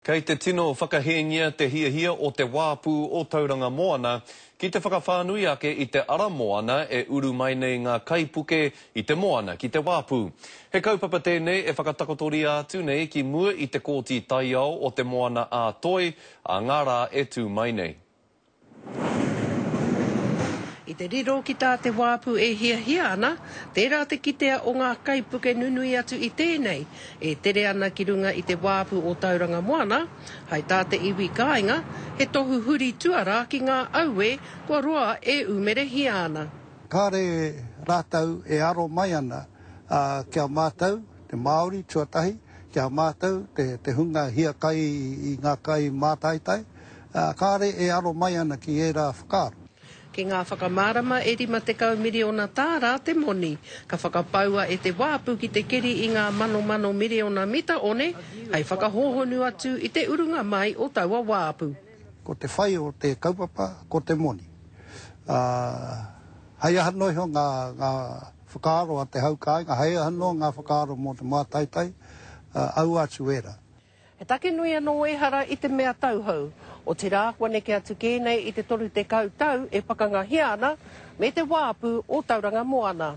Kei te tino whakahēngia te hiahia o Te Wāpu o Tauranga Moana ki te whakawhānui ake i te ara moana e uru mai nei ngā kaipuke i te moana ki Te Wāpu. He kaupapa tēnei e whakatakotoria atu nei ki mua i te Kōti Taiao o Te Moana-a-Toi a ngā rā e tū mai nei. I te riro ki tā te wāpu e hiahia ana, tērā te kitea o ngā kaipuke nunui atu i tēnei, e tere ana ki runga i te wāpu o Tauranga Moana, hai tā te iwi kāinga, he tohu huri tuarā ki ngā auē kua roa e ūmerehia ana. Kāre rātou e aro mai ana ki a mātou, te Māori tuatahi, ki a mātou, te hunga hiakai i ngā kai mātaitai. ā, kāre e aro mai ana ki ērā whakaaro. Ki ngā whakamārama e 50 miriona tāra te moni, ka whakapaua e te wāpu ki te keri i ngā manomano miriona mita one hei whakahōhonu atu i te urunga mai o taua wāpu. Ko te whai o te kaupapa ko te moni, ā, hei aha noa iho ngā whakaaro a te hau kāinga, hei aha noa ngā whakaaro mō te mātaitai, ā, aua atu ērā. He take nui anō ehara i te mea tauhou, otirā kua neke atu kē nei i te 30 tau e pakangahia ana me te wāpu o Tauranga Moana.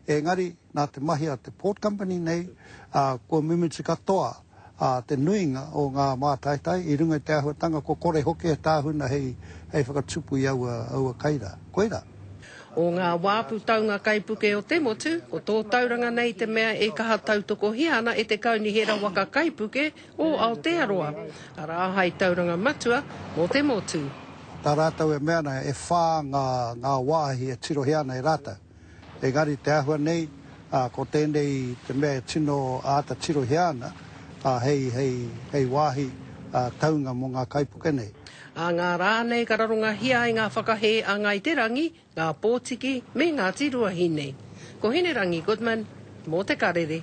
Engari, nā te mahi a te Port Company nei, kua mimiti katoa te nuinga o ngā mātaitai i runga i te āhuatanga kua kore hoki e tāhuna hei whakatupu i aua kaira. Koirā. O ngā wā putaunga kaipuke o te motu, ko tō tauranga nei te mea e kaha tautokohia ana e te Kaunihera Waka Kaipuke o Aotearoa, arā, hai tauranga matua mō te motu. Nā rātou e mea ana, e whā ngā, ngā wāhi e tirohia ana e rātou. Engari te āhua nei, ko tēnei te mea e tino āta tirohia ana hei, hei, hei wāhi taunga mō ngā kaipuke nei. a ngā rā nei ka rarongahia ai ngā whakahē a Ngāi Te Rangi, ngā Pōtiki me Ngāti Ruahine. Ko Hinerangi Goodman, mō Te Karere.